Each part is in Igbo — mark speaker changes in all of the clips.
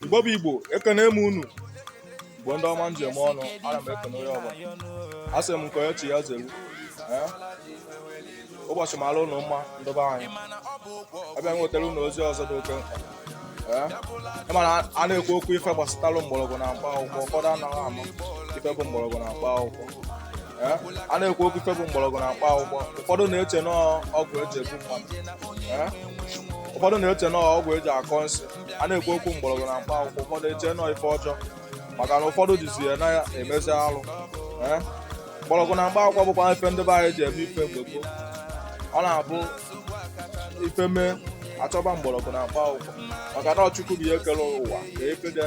Speaker 1: Igbo bụ Igbo ekene m unu bụ ndị ọma m ji eme ọnụ ana m ekene onye ọbụla asị m nke onye chi ya zelu ụbọchị mara unu mma ndị be anyị abịa m wetara unu ozi ọzọ dị oke mkpa ị ma na a na-ekwu okwu ife gbasatara mgbọrọgwụ na mkpa akwụkwọ ụfọdụ anaghị ama ife bụ mgbọrọgwụ na mkpa akwụkwọ a na-ekwu okwu ife bụ mgbọrọgwụ na mkpa akwụkwọ ụfọdụ na-eche na ọgwụ eji egbu mmadụ ụfọdụ na-eche na ọgwụ eji akọ nsị a na-ekwu okwu mgbọrọgwụ na mkpa akwụkwọ ụfọdụ eche na ọ ife ọjọọ maka na ụfọdụ jizi ya na-emezi alụ eh? mgbọrọgwụ na mkpa akwụkwọ bụkwa ife ndị be anyị ji eme ife mgbe gboo ọ na-abụ ife mee achọba mgbọrọgwụ na mkpa akwụkwọ maka na ọ Chukwu bụ onye kere ụwa ka efe dị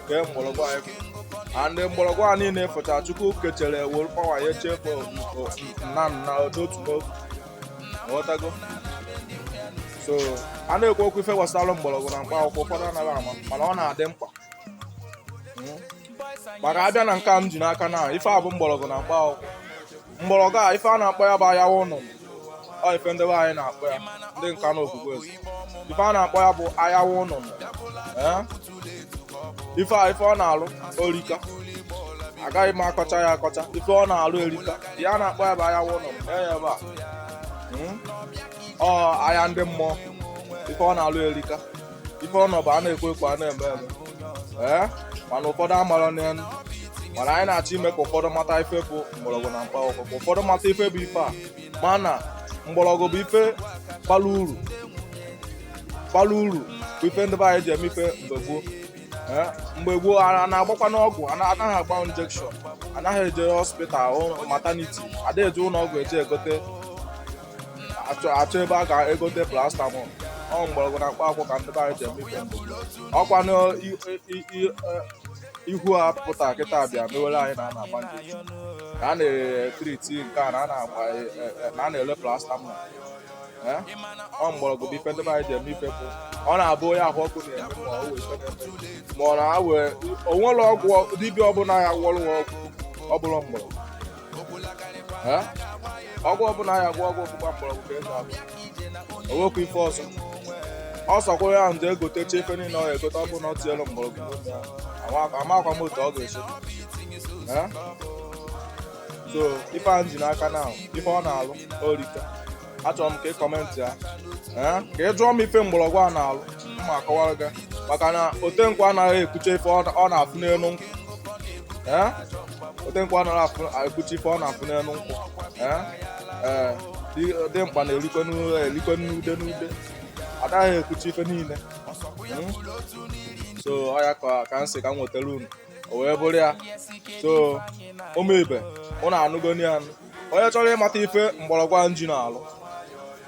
Speaker 1: kee mgbọrọgwụ anyị a ndị mgbọrọgwụ a niile fụcha Chukwu kechere were pawa ya echefu nna nna n'otu n'otu ghọtago so a na-ekwu okwu ife gbasara mgbọrọgwụ na mkpa akwụkwọ ụfọdụ anaghị ama mana ọ na-adị mkpa hmm. maka abịa na nke a m ji n'aka na ife a bụ mgbọrọgwụ na mkpa akwụkwọ mgbọrọgwụ a ife a na-akpọ ya bụ ayawa ụnụ ọ ife ndị be anyị na-akpọ ya ndị nka na ofufe ife a na-akpọ ya bụ ayawa ụnụ eh? ife a ife ọ na-alụ orika agaghị m akọcha ya akọcha ife ọ na-alụ erika ife a na-akpọ ya bụ ayawa ụnụ ya ebe a hmm? ọ aya ndị mmụọ ife ọ na-alụ erika ife ọ nọ bụ a na-ekwu ekwu a na-eme eme ee eh? mana ụfọdụ amara n'elu mana anyị na-achọ ime ka ụfọdụ mata ife bụ mgbọrọgwụ na mkpa akwụkwọ ka ụfọdụ mata ife bụ ife a ma na mgbọrọgwụ bụ ife bara uru bara uru bụ ife ndị be anyị ji eme ife mgbe gboo Eh, mgbe gboo a a na-agbakwanụ ọgwụ a na- anaghị agba injection anaghị eje hospital ụlọ- maternity adịghị eje ụlọ ọgwụ eje egote achọ achọ ebe a ga-egote paracetamol ọ mgbọrọgwụ na mkpa akwụkwọ ka ndị be anyị ji eme ife mgbe gboo. ọkwa na i- i- i- i- eh, ihu a pụta kịta bịa mewere anyị na a na-agba ndị ka a na-etriti nke a na a na-agba e, e, e, na a na-elo paracetamol ọ mgbọrọgwụ bụ ife ndị be anyị ji eme ife bụ ọ na-abụ onye ahụ ọkụ na-eme ma ọ wee ma ọ na-awe o nwere ọgwụ dibịa ọbụla ya gwọrọ ọgwụ ọ bụrụ mgbọrọgwụ ọgwụ ọbụla a ya-agwọ agwọ ọ bụkwa mgbọrọgwụ ka ọ ya-abụ o nwekwa ife ọzọ ọ sọkwa ya je egotecha ife niile ọ ya-egote ọ bụ na o tinyerọ mgbọrọgwụ amakwa m otu ọ ga-esi so ife a m ji n'aka na ife ọ na-alụ orika achọrọ m ka ị comment ya ka ị jụọ m ife mgbọrọgwụ a na-alụ m akọwara gị maka na otenkwụ anaghị ekwucha ife ọ na-afụ n'elu nkwụ otenkwụ anaghị ekwucha ife ọ na-afụ n'elu nkwụ ee dimkpa na-erikwe n'ude n'ude adaghị ekwucha ife niile hmm? so ọ ya ka m sị ka m nwetara unu o wee bụrụ ya so ụmụ ibe unu anụgoni ya onye chọrọ ịmata ife mgbọrọgwụ a m ji na-alụ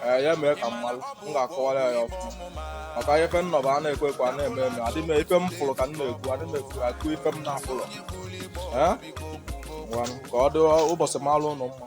Speaker 1: ee ya mee ka m malụ m ga-akọwara ya ọfụma maka ife nnọ bụ a na-ekwu ekwu a na-eme eme adị m ife m fụrụ ka m na-ekwu adị m ekwu ife m na-afụrọ ee ka ọ dị ụbọchị malụ unu mma